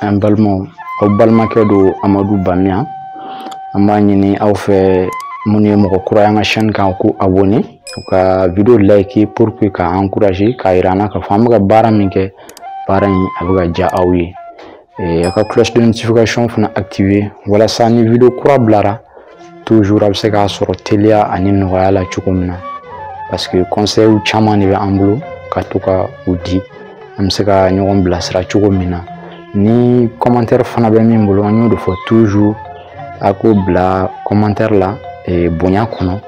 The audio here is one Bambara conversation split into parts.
an balimaw aw balimakɛ don amadu bamiya an b'a ɲini aw fɛ minnu ye mɔgɔ kura ye an ka chaîne kan k'u abonner u ka video like pour que k'an encourager k'a yira an na k'a fɔ an bɛ ka baara min kɛ baara in a bɛ ka diya aw ye a ka cloche de notification fana activer walasa ni video kura bilara toujours a bɛ se k'a sɔrɔ teliya ani nɔgɔya la cogo min na parce que conseils caman de bɛ an bolo ka to ka u di an bɛ se ka ɲɔgɔn bilasira cogo min na ni commentaire fana bɛ min bolo an y'o de fɔ toujours a k'o bila commentaire la bonya kɔnɔ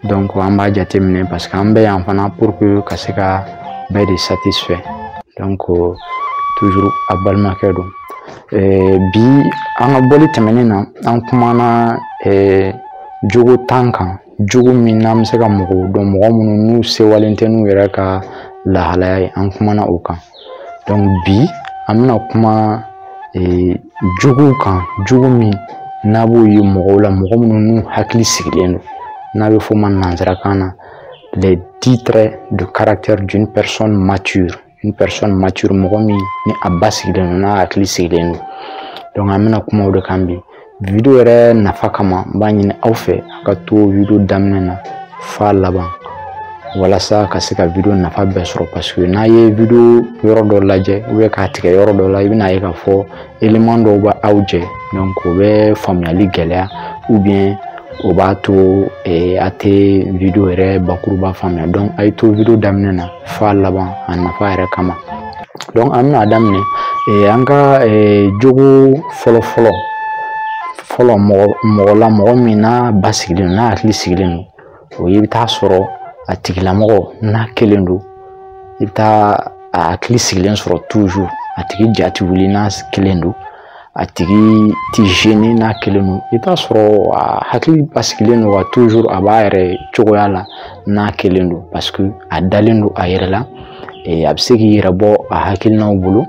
donc an b'a jateminɛ parce que an bɛ yan fana pour que ka se ka bɛɛ de satisfait donc toujours a balimakɛ don eh, bi an ka bɔli tɛmɛnen na an kumana eh, jogo tan kan jogo min n'an bɛ se ka mɔgɔw dɔn mɔgɔ minnu n'u sewalen tɛ n'u yɛrɛ ka lahalaya ye an kumana o kan bi an bɛna kuma ee jogow kan jogo min n'a b'o ye mɔgɔw la mɔgɔ minnu n'u hakili sigilen don n'a bɛ f'o ma nansarakan na les dix traits de caractère d'une personne mature une personne mature mɔgɔ min ni a basigilen don n'a hakili sigilen don donc an bɛna kuma o de kan bi video yɛrɛ nafa kama n b'a ɲini aw fɛ a ka to video daminɛ na f'a laban walasa ka se ka video nafa bɛɛ sɔrɔ paseke n'a ye video yɔrɔ dɔ lajɛ ubiyɛn k'a tigɛ yɔrɔ dɔ la i bɛn'a ye k'a fɔ eleman dɔw bɛ aw jɛ donc o bɛ faamuyali gɛlɛya ubiyɛn o b'a to a tɛ video yɛrɛ bakuruba faamuya donc a ye to video daminɛ na f'a laban a nafa yɛrɛ kama donc an bɛn'a daminɛ eh, an ka eh, jogo fɔlɔfɔlɔ fɔlɔ mɔgɔ mɔgɔ la mɔgɔ min n'a basigilen don n'a hakili sigilen don o ye i bɛ t'a sɔrɔ a tigilamɔgɔ n'a kelen don i bɛ taa a hakili sigilen sɔrɔ toujours a tigi ja tɛ wuli n'a kelen don a tigi tɛ gêné n'a kelen don i bɛ t'a sɔrɔ a hakili basigilen don wa tuzuru a b'a yɛrɛ cogoya la n'a kelen don paseke a dalen don a yɛrɛ la a bɛ se k'i yɛrɛ bɔ a hakilinaw bolo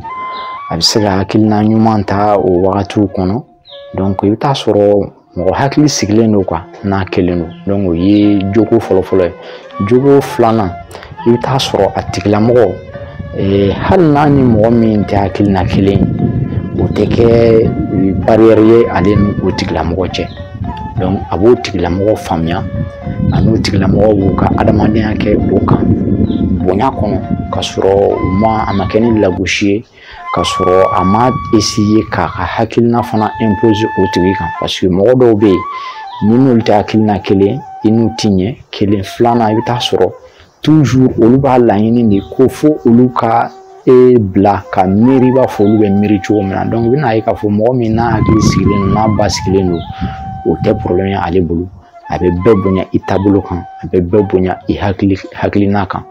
a bɛ se ka hakilina ɲuman ta o wagatiw kɔnɔ i bɛ t'a sɔrɔ mɔgɔ hakili sigilen don quoi n'a kelen don donc o ye jogo fɔlɔfɔlɔ ye jogo filanan i bɛ taa sɔrɔ a tigilamɔgɔ eh, hali n'a ni mɔgɔ min tɛ hakilina kelen ye o tɛ kɛ eh, barrière ye ale ni o tigilamɔgɔ cɛ donc a b'o tigilamɔgɔ faamuya a n'o tigilamɔgɔ b'u ka adamadenya kɛ o kan bonya kɔnɔ ka sɔrɔ u ma a ma kɛ ni lagosi ye ka sɔrɔ a ma essayer k'a ka hakilina fana imposer o tigi kan parce que mɔgɔ dɔw bɛ yen n'i n'olu tɛ hakilina kelen i n'u ti ɲɛ kelen filanan i bɛ taa sɔrɔ toujours olu b'a laɲini de ko fo olu ka e bila ka miiri i b'a fɔ olu bɛ miiri cogo min na donc i bɛna ye k'a fɔ mɔgɔ min n'a hakili sigilen don n'a basigilen don o tɛ problème ye ale bolo a bɛ bɛɛ bonya i taabolo kan a bɛ bɛɛ bonya i hakili hakilina kan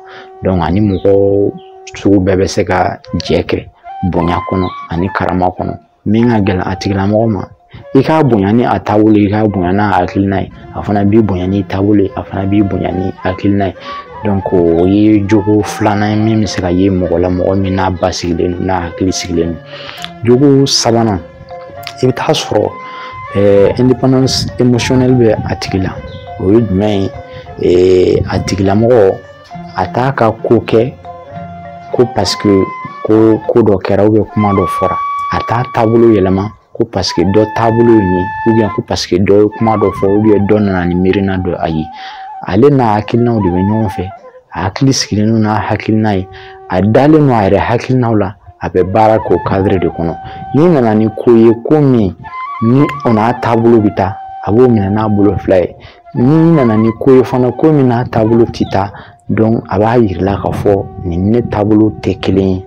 donc a ni mɔgɔ sugu bɛɛ bɛ se ka jɛ kɛ bonya kɔnɔ ani karama kɔnɔ min ka gɛlɛn a tigilamɔgɔ ma i k'a bonya ni a taabolo i k'a bonya n'a hakilina ye a fana b'i bonya n'i taabolo ye a fana b'i bonya n'i hakilina ye o ye jogo filanan ye min bɛ se ka ye mɔgɔ la mɔgɔ min n'a basigilen don n'a hakili sigilen don jogo sabanan i bɛ taa sɔrɔ eh, indépendance émotionnelle bɛ a tigi la o ye jumɛn ye eh, a tigilamɔgɔ a t'a ka ko kɛ ko parce que ko ko dɔ kɛra ou bien kuma dɔ fɔra a t'a taabolo yɛlɛma ko parce que dɔ taabolo ye nin ou bien ko parce que dɔ ye kuma dɔ fɔ ou bien dɔ nana ni miirina dɔ ye ale n'a hakilinaw de bɛ ɲɔgɔn fɛ a hakili sigilen don n'a hakilina ye a dalen don a yɛrɛ hakilinaw la a bɛ baara k'o kadiri de kɔnɔ n'i nana ni ko ye ko min ni o n'a taabolo bɛ taa a b'o minɛ n'a bolo fila ye N'i nana ni ko ye fana ko min n'a taabolo tɛ taa donc a b'a jira i la k'a fɔ nin ne taabolo tɛ kelen ye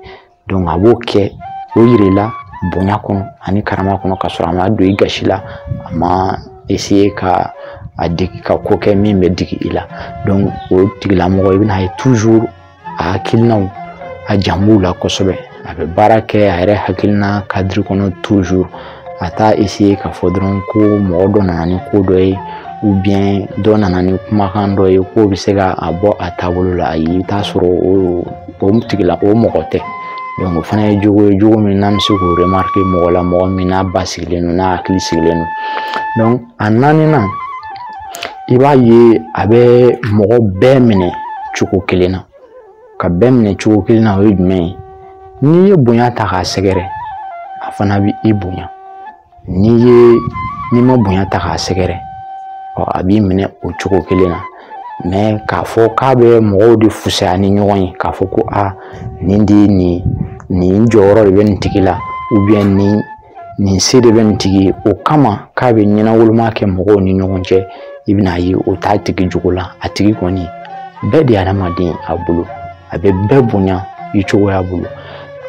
donc a b'o kɛ o jira i la bonya kɔnɔ ani karama kɔnɔ ka sɔrɔ a ma don i gasi la a ma essayer ka a digi ka ko kɛ min bɛ digi i la donc o tigilamɔgɔ i bɛna ye toujours a hakilinaw a jan b'u la kosɛbɛ a bɛ baara kɛ a yɛrɛ hakilina kadiri kɔnɔ toujours a t'a essayer k'a fɔ dɔrɔn ko mɔgɔ dɔ nana ni ko dɔ ye ou bien dɔ nana ni kumakan dɔ ye k'o bɛ se ka a bɔ a taabolo la ayi i bɛ t'a sɔrɔ o o tigila o mɔgɔ tɛ donc o fana ye jogo ye jogo min n'an bɛ se k'o remarquer mɔgɔ la mɔgɔ min n'a basigilen don n'a hakili sigilen don donc a naaninan i b'a ye a bɛ mɔgɔ bɛɛ minɛ cogo kelen na ka bɛɛ minɛ cogo kelen na o ye jumɛn ye n'i ye bonya ta k'a sɛgɛrɛ a fana bɛ i bonya n'i ye n'i ma bonya ta k'a sɛgɛrɛ ɔ a b'i minɛ o cogo kelen na mais k'a fɔ k'a bɛ mɔgɔw de fusaya ni ɲɔgɔn ye k'a fɔ ko a nin de ye nin nin jɔyɔrɔ de bɛ nin tigi la nin nin se de bɛ nin tigi ye o kama k'a bɛ ɲɛnawoloma kɛ mɔgɔw ni ɲɔgɔn cɛ i bɛn'a ye o t'a tigi jogo la a tigi kɔni bɛɛ de ye adamaden a bolo a bɛ bɛɛ bonya i cogoya bolo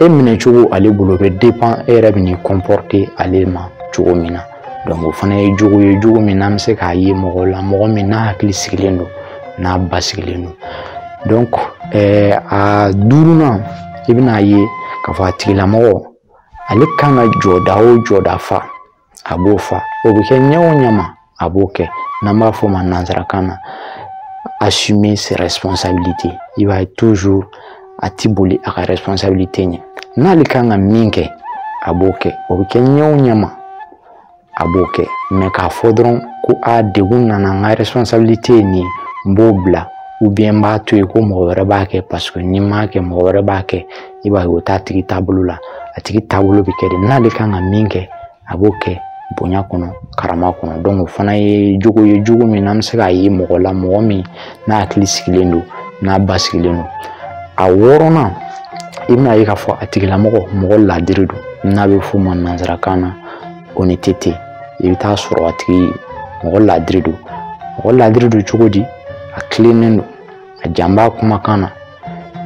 e minɛ cogo ale bolo bɛ dépend e yɛrɛ bɛ n'i comporter ale ma cogo min na donc o fana ye jogo ye jogo min n'an bɛ se k'a ye mɔgɔw la mɔgɔ min n'a hakili sigilen don n'a basigilen don donc ɛɛ a duurunan i bɛn'a ye k'a fɔ a tigilamɔgɔ ale kan ka jɔda o jɔda fa a b'o fa o bɛ kɛ ɲɛ o ɲɛ ma a b'o kɛ n'an b'a fɔ o ma nanzarakan na assumer ses responsabilités i b'a ye toujours a ti boli a ka responsabilité ɲɛ n'ale kan ka min kɛ a b'o kɛ o bɛ kɛ ɲɛ o ɲɛ ma a b'o kɛ mais k'a fɔ dɔrɔn ko a degun nana n ka responsabilité ye nin ye n b'o bila ou bien n b'a to yen ko mɔgɔ wɛrɛ b'a kɛ parce que ni n m'a kɛ mɔgɔ wɛrɛ b'a kɛ i b'a ye o t'a tigi taabolo la a tigi taabolo bɛ kɛ de n'ale kan ka min kɛ a b'o kɛ bonya kɔnɔ karama kɔnɔ donc o fana ye jogo ye jogo min n'an bɛ se k'a ye mɔgɔ la mɔgɔ min n'a hakili sigilen don n'a basigilen don a wɔɔrɔnan i bɛn'a ye k'a fɔ a tigilamɔgɔ mɔgɔ laadiri don n'a bɛ f'o ma nanzarakan na honnêteté i bɛ taa sɔrɔ a tigi mɔgɔ laadiri don mɔgɔ laadiri don cogo di a tilennen don a jan b'a kumakan na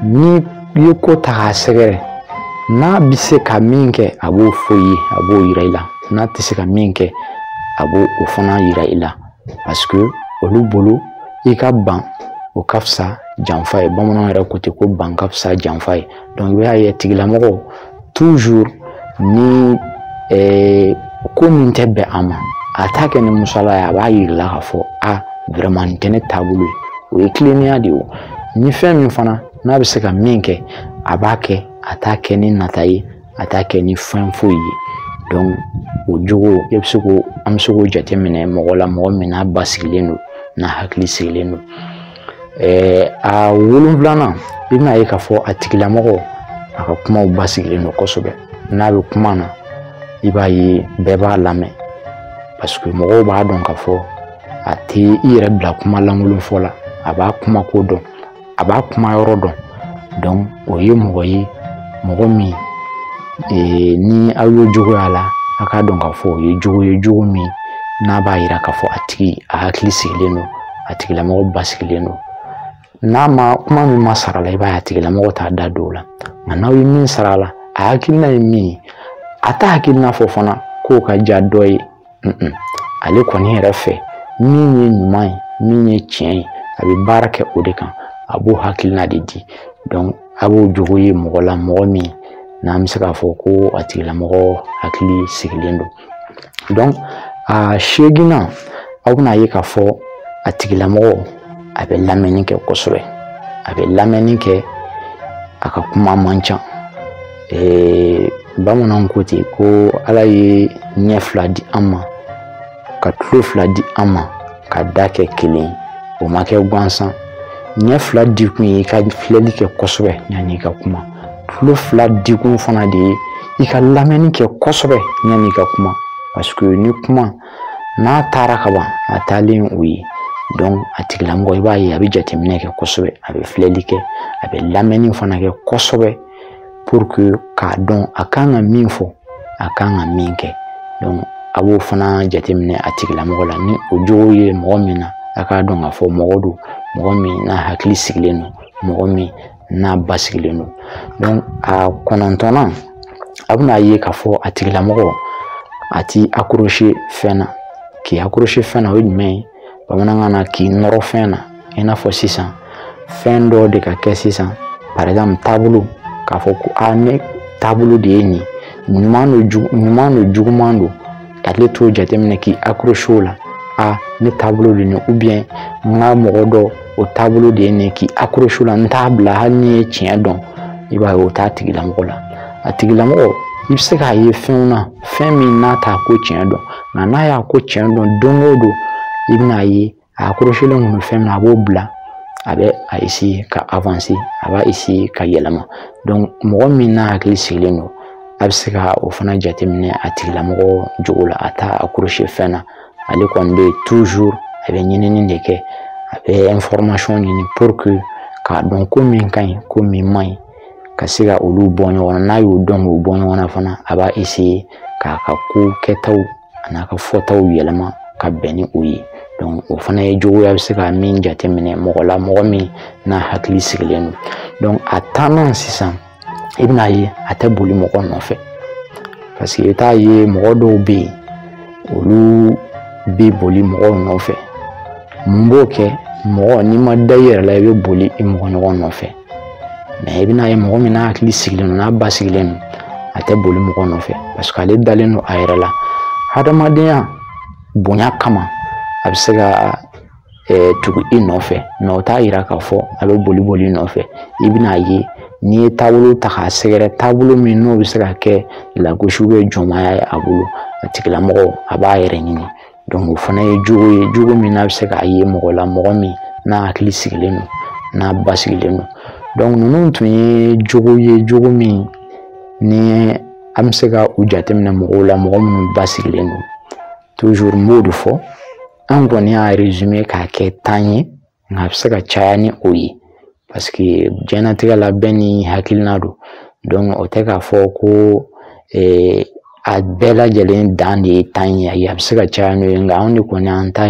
n'i ye ko ta k'a sɛgɛrɛ n'a bɛ se ka min kɛ a b'o fɔ i ye a b'o yira i la n'a tɛ se ka min kɛ a b'o o fana yira i la parce que olu bolo i ka ban o ka fisa janfa ye bamananw yɛrɛ ko ten ko ban ka fisa janfa ye i b'a ye tigilamɔgɔ toujours ni eh, ko min tɛ bɛn a ma a t'a kɛ ni musala ye a b'a yira i la k'a fɔ a vraiment nin tɛ ne taabolo ye o ye tilennenya de ye o ni fɛn min fana n'a bɛ se ka min kɛ a b'a kɛ a t'a kɛ ni nata ye a t'a kɛ ni fɛn foyi ye donc o jogo e bɛ se k'o an bɛ se k'o jateminɛ mɔgɔ la mɔgɔ min n'a basigilen don n'a hakili sigilen don a wolonfilanan i bɛn'a ye k'a fɔ a tigilamɔgɔ a ka kumaw basigilen don kosɛbɛ n'a bɛ kuma na i b'a ye bɛɛ b'a lamɛn parce que mɔgɔw b'a dɔn k'a fɔ a tɛ i yɛrɛ bila kuma lankolon fɔ la a b'a kuma ko dɔn a b'a kuma yɔrɔ dɔn donc o ye mɔgɔ ye mɔgɔ min ee, ni aw y'o jogo y'a la a k'a dɔn k'a fɔ o ye jogo ye jogo min n'a b'a yira k'a fɔ a tigi a hakili sigilen don a tigilamɔgɔ basigilen don n'a ma kuma min ma sara a la i b'a ye a tigilamɔgɔ t'a da don o la nka n'aw ye min sara a la a hakilina ye min ye a t'a hakilina fɔ fana k'o ka diya dɔ ye ale kɔni yɛrɛ fɛ min ye ɲuman ye min ye tiɲɛ ye a bɛ baara kɛ o de kan a b'o hakilina de di a b'o jogo ye mɔgɔ la mɔgɔ min n'an bɛ se k'a fɔ ko a tigilamɔgɔ hakili sigilen don a seeginnan aw bɛna a ye k'a fɔ a tigilamɔgɔ a bɛ lamɛnni kɛ kosɛbɛ a bɛ lamɛnni kɛ a ka kuma man ca bamananw ko ten ko ala ye ɲɛ fila di an ma ka tulo fila di an ma ka da kɛ kelen o ma kɛ gansan ɲɛ fila dikun ye i ka filɛli kɛ kosɛbɛ yanni i ka kuma tulo fila dikun fana de ye i ka lamɛnni kɛ kosɛbɛ yanni i ka kuma paseke ni kuma n'a taara ka ban a taalen o ye donc a tigilamɔgɔ i b'a ye a bɛ jateminɛ kɛ kosɛbɛ a bɛ filɛli kɛ a bɛ lamɛnni fana kɛ kosɛbɛ pour que k'a dɔn a kan ka min fɔ a kan ka min kɛ donc a b'o fana jateminɛ a tigilamɔgɔ la ni o jogo ye mɔgɔ min na a k'a dɔn k'a fɔ mɔgɔ don mɔgɔ min n'a hakili sigilen don mɔgɔ min n'a basigilen don donc a kɔnɔntɔnnan a bɛna a ye k'a fɔ a tigilamɔgɔ a t'i accroche fɛn na k'i accroche fɛn na o ye jumɛn ye bamanankan na k'i nɔrɔ fɛn na i n'a fɔ sisan fɛn dɔ de ka kɛ sisan par exemple taabolo k'a fɔ ko a ne taabolo de ye nin ɲuman don jugu ɲuman don juguman don ka tila t'o jateminɛ k'i accroche o la a ne taabolo de nin ubiyɛn n ka mɔgɔ dɔ o taabolo de ye nin k'i accroche o la n t'a bila hali n'i ye tiɲɛ dɔn i b'a ye o t'a tigilamɔgɔ la a tigilamɔgɔ i bɛ se k'a ye fɛnw na fɛn min n'a t'a ko tiɲɛ dɔn nka n'a y'a ko tiɲɛ dɔn don o don i bɛna ye a accrochelen tun bɛ fɛn min na a b'o bila a bɛ a ka a b'a ka yɛlɛma mɔgɔ min n'a hakili sigilen don a bɛ se ka o fana jateminɛ a tigilamɔgɔ jogo la a t'a accroche fɛn na ale kɔni bɛ a bɛ ɲinini de kɛ a bɛ ɲini k'a dɔn ko min ka ɲi ko min man ɲi ka se ka olu bɔ ɲɔgɔn na n'a y'o dɔn k'o bɔ ɲɔgɔn na fana a b'a k'a ka ko kɛtaw an'a ka fɔtaw yɛlɛma ka bɛn ni o ye o fana ye jogo ye a bɛ se ka min jateminɛ mɔgɔ la mɔgɔ min n'a hakili sigilen don a tannan sisan i bɛna ye a tɛ boli mɔgɔ nɔfɛ paseke i t'a ye mɔgɔ dɔw bɛ yen olu bɛ boli mɔgɔw nɔfɛ mun b'o kɛ mɔgɔ n'i ma da i yɛrɛ la i bɛ boli i mɔgɔ ɲɔgɔn nɔfɛ mɛ i bɛna ye mɔgɔ min n'a hakili sigilen don n'a basigilen don a tɛ boli mɔgɔ nɔfɛ parce que ale dalen don a yɛrɛ la hadamadenya bonya kama a bɛ se ka eh, tugu i nɔfɛ mɛ o t'a yira k'a fɔ a bɛ boli bol'i nɔfɛ i bɛna ye n'i ye taabolo ta k'a sɛgɛrɛ taabolo min n'o bɛ se ka kɛ lagosi bɛ jɔnmaya ye a bolo a tigilamɔgɔ a b'a yɛrɛ ɲini o fana ye jogo ye jogo min n'an bɛ se k'a ye mɔgɔ la mɔgɔ min n'a hakili sigilen don n'a basigilen don ninnu tun ye jogo ye jogo min ni an bɛ se ka u jateminɛ mɔgɔw la mɔgɔ minnu basigilen don n b'o de fɔ an kɔni y'a résumé k'a kɛ tan ye nka a bɛ se ka caya ni o ye paseke diɲɛnatigɛ la bɛɛ n'i hakilina don o tɛ k'a fɔ ko a bɛɛ lajɛlen dan de ye tan ye a bɛ se ka caya n'o ye nka anw de kɔni an ta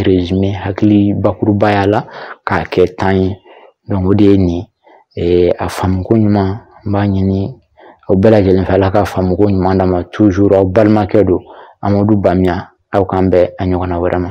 hakili bakurubaya la k'a kɛ tan ye o de ye nin ye a faamuko ɲuman n b'a ɲini aw bɛɛ lajɛlen fɛ ala ka faamuko ɲuman d'an ma aw balimakɛ don an b'olu bamiya aw k'an bɛn a ɲɔgɔnna wɛrɛ ma